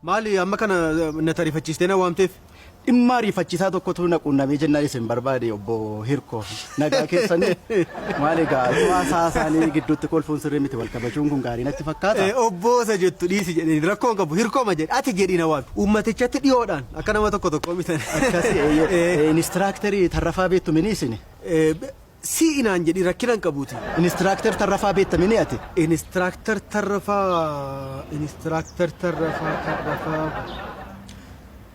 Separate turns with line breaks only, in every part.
Maali amma kana na tarifachiistee na waamteef? Dhimma ariifachiisaa
tokkotu na quunnamee jennaan isin barbaade obbo Hirkoo. Nagaa keessanii? Maal egaa utuu haasaa isaanii gidduutti kolfuun sirrii miti wal kabajuun kun gaarii natti fakkaata. Obbo isa jettu
dhiisi jedheen rakkoo hin qabu Hirkooma jedhe ati jedhii na waami. Uummatichatti dhiyoodhaan akka nama tokko tokkoo mitan. Akkasi eeyyee.
Inistiraaktarii Tarrafaa beektu mini isini? Si'i
naan jedhi rakkina hin qabuutii. Inistiraaktar Tarrafaa
beekta mini ati? Inistiraaktar
Tarrafaa Inistiraaktar Tarrafaa Tarrafaa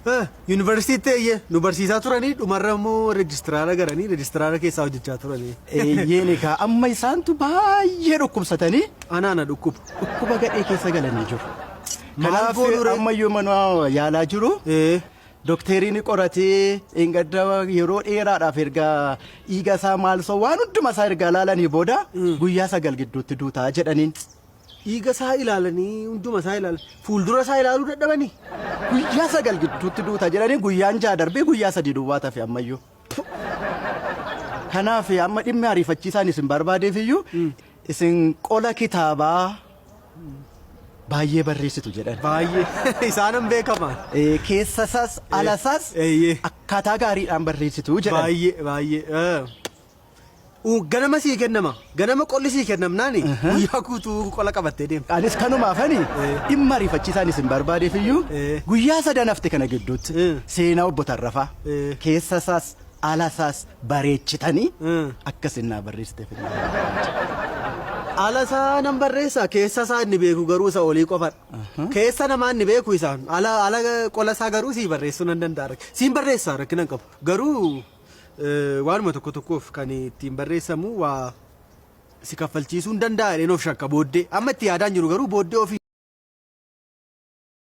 Eh, Yuunivarsiitiitti eeyyee nu barsiisaa turanii dhumarra immoo reejistiraara garanii reejistiraara keessaa hojjechaa turanii. Eeyyeen egaa
amma isaantu baay'ee dhukkubsatanii Anaa na dhukkuba.
dhukkuba gadhee keessa galanii
jiru. Maal Kanaaf goonuu ree? amma iyyuu mana yaalaa jiru. Ee. Dokteerii ni qoratee dheengadda yeroo dheeraadhaaf erga dhiiga isaa maalsoo waan hunduma isaa erga ilaalanii booda guyyaa sagal gidduutti duutaa jedhaniin. Dhiiga isaa
ilaalanii hunduma isaa ilaalan fuuldura isaa ilaaluu dadhabanii. Guyyaa sagal
gidduutti duuta jedhanii guyyaan jaha darbee guyyaa sadii duwwaa tafe ammayyuu. Kanaaf amma dhimmi ariifachiisaan isin barbaadeef iyyuu isin qola kitaabaa baay'ee barreessitu jedhan. Baay'ee isaanan
beekama. Eh, Keessa isaas
ala isaas Eeyyee. akkaataa gaariidhaan barreessitu jedhan. Baay'ee baay'ee. eh.
Uu, ganama sii kennama. Ganama qolli sii kennamnaani Aha. guyyaa guutuu qola qabattee deemta. Anis kanumaafani
Eh. dhimma ariifachiisaan isin barbaadeef iyyuu Eh. guyyaa sadan hafte kana gidduutti Eh. seenaa obbo Tarrafaa Eh. keessa isaas ala isaas bareechitanii Eh. akka isin naa barreessiteef hin Ala
isaa nan barreessa keessa isaa inni beeku garuu isa olii qofadha. Keessa namaa inni beeku isaan ala ala qola isaa garuu sii barreessuu nan danda'a. Siin barreessa rakkina hin qabu. Garuu Waanuma tokko tokkoof kan ittiin barreessamu waa si kaffalchiisuu hin danda'a jedheen of shakka booddee. Amma itti yaadaan jiru garuu booddee ofii